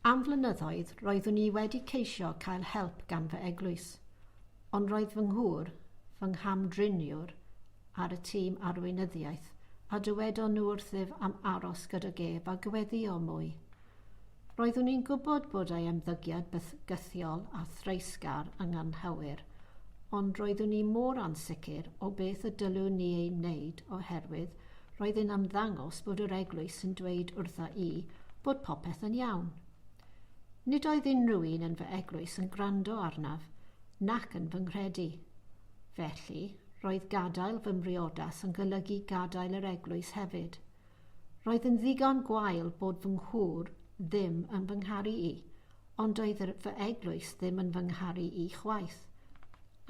Am flynyddoedd roeddwn i wedi ceisio cael help gan fy eglwys, ond roedd fy nghŵr, fy ngham-driniwr, ar y tîm arweinyddiaeth, a dywedon nhw wrthyf am aros gydag ef a gweddïo mwy. Roeddwn i'n gwybod bod ei ymddygiad bythgythiol a threisgar yn anghywir, ond roeddwn i mor ansicr o beth y dylwn ni ei wneud oherwydd roedd e'n ymddangos bod yr eglwys yn dweud wrtha i bod popeth yn iawn. Nid oedd unrhyw un yn fy eglwys yn gwrando arnaf nac yn fy nghredu. Felly, roedd gadael fy mhriodas yn golygu gadael yr eglwys hefyd. Roedd yn ddigon gwael bod fy nghŵr ddim yn fy ngharu i, ond oedd yr fy eglwys ddim yn fy ngharu i chwaith.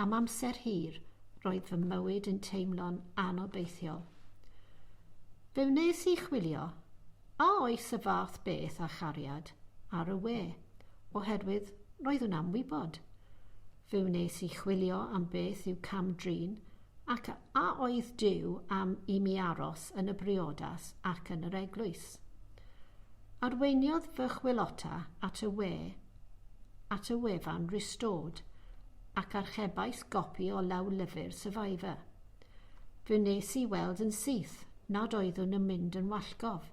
Am amser hir, roedd fy mywyd yn teimlo'n anobeithiol. Fe wnes i chwilio, a oes y fath beth â chariad, ar y we, oherwydd roeddwn am wybod. Fe wnes i chwilio am beth yw cam-drin, Ac a oedd Duw am i mi aros yn y briodas ac yn yr eglwys? Arweiniodd fy chwilota at y we, at y wefan Restored, ac archebais gopi o lawlyfr Survivor. Fe wnes i weld yn syth nad oeddwn yn mynd yn wallgof,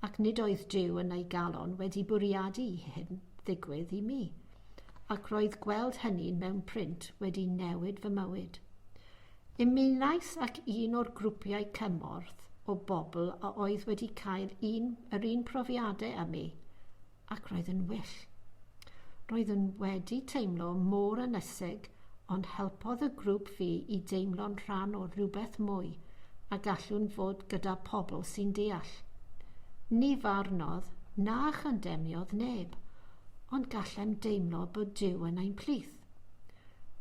ac nid oedd Duw yn ei galon wedi bwriadu i hyn ddigwydd i mi. ac roedd gweld hynny mewn print wedi newid fy mywyd. Ymunais ac un o'r grwpiau cymorth o bobl a oedd wedi cael un, yr un profiadau â mi, ac roedd yn well. Roeddwn wedi teimlo mor ynysig ond helpodd y grŵp fi i deimlo'n rhan o rywbeth mwy a gallwn fod gyda pobl sy'n deall. Ni farnodd na chandemniodd neb, ond gallem deimlo bod Duw yn ein plith.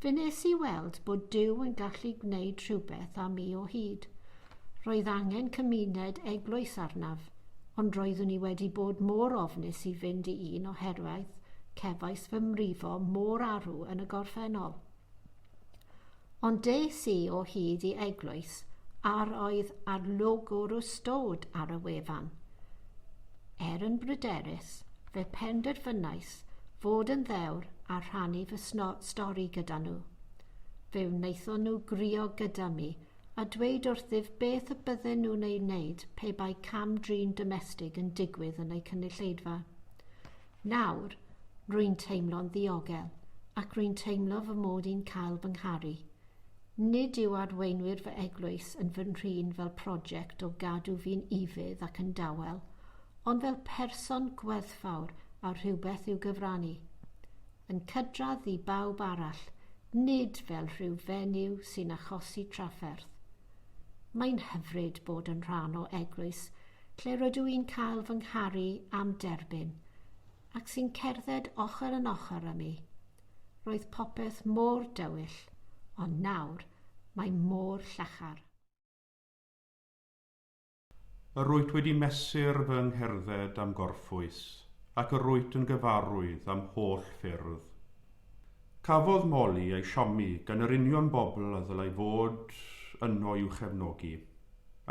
Fe nes i weld bod Duw yn gallu gwneud rhywbeth am mi o hyd. Roedd angen cymuned eglwys arnaf. Ond roeddwn i wedi bod mor ofnus i fynd i un oherwydd cefais fy mrifo mor arw yn y gorffennol. Ond des i o hyd i eglwys a'r oedd arlogwr o stod ar y wefan. Er yn bryderus, fe penderfynais fod yn ddewr a rhannu fy sno- stori gyda nhw. Fe wnaethon nhw grio gyda mi a dweud wrthyf beth y bydden nhw'n ei wneud pe bai cam-drin domestig yn digwydd yn eu cynulleidfa. Nawr, rwy'n teimlo'n ddiogel, ac rwy'n teimlo fy mod i'n cael fy ngharu. Nid yw arweinwyr fy eglwys yn fy nhrin fel prosiect o gadw fi'n ufudd ac yn dawel, ond fel person gwerthfawr â rhywbeth i'w gyfrannu. yn cydradd i bawb arall, nid fel rhyw fenyw sy'n achosi trafferth. Mae'n hyfryd bod yn rhan o eglwys lle rydw i'n cael fy ngharu am derbyn, ac sy'n cerdded ochr yn ochr â mi. Roedd popeth mor dywyll, ond nawr mae mor llachar. Yr wyt wedi mesur fy ngherdded am gorffwys, ac yr wyt yn gyfarwydd â'm holl ffyrdd. Cafodd Molly ei siomi gan yr union bobl a ddylai fod yno i'w chefnogi.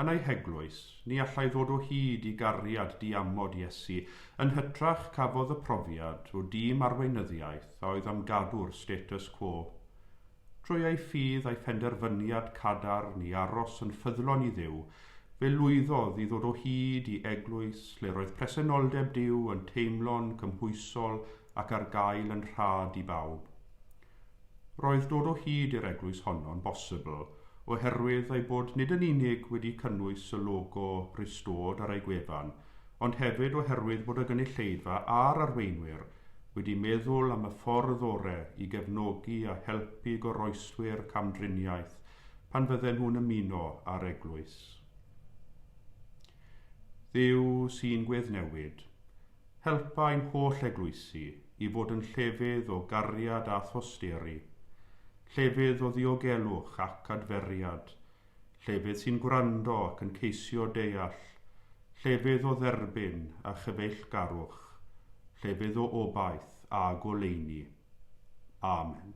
Yn ei heglwys, ni allai ddod o hyd i gariad diamod Iesu, yn hytrach cafodd y profiad o dîm arweinyddiaeth a oedd am gadw'r status quo. Drwy ei ffydd a'i phenderfyniad cadarn i aros yn ffyddlon i Dduw, fe lwyddodd i ddod o hyd i eglwys lle roedd presenoldeb Duw yn teimlo'n gymhwysol ac ar gael yn rhad i bawb. Roedd dod o hyd i'r eglwys honno'n bosibl oherwydd ei bod nid yn unig wedi cynnwys y logo Restored ar ei gwefan, ond hefyd oherwydd bod y gynulleidfa a'r arweinwyr wedi meddwl am y ffordd ore i gefnogi a helpu goroeswyr camdriniaeth pan fydden nhw'n ymuno â'r eglwys. Dduw sy'n gweddnewid, helpa ein holl eglwysi i fod yn llefydd o gariad a thosteri, llefydd o ddiogelwch ac adferiad llefydd sy'n gwrando ac yn ceisio deall, llefydd o dderbyn a chyfeillgarwch, llefydd o obaith a goleuni. Amen.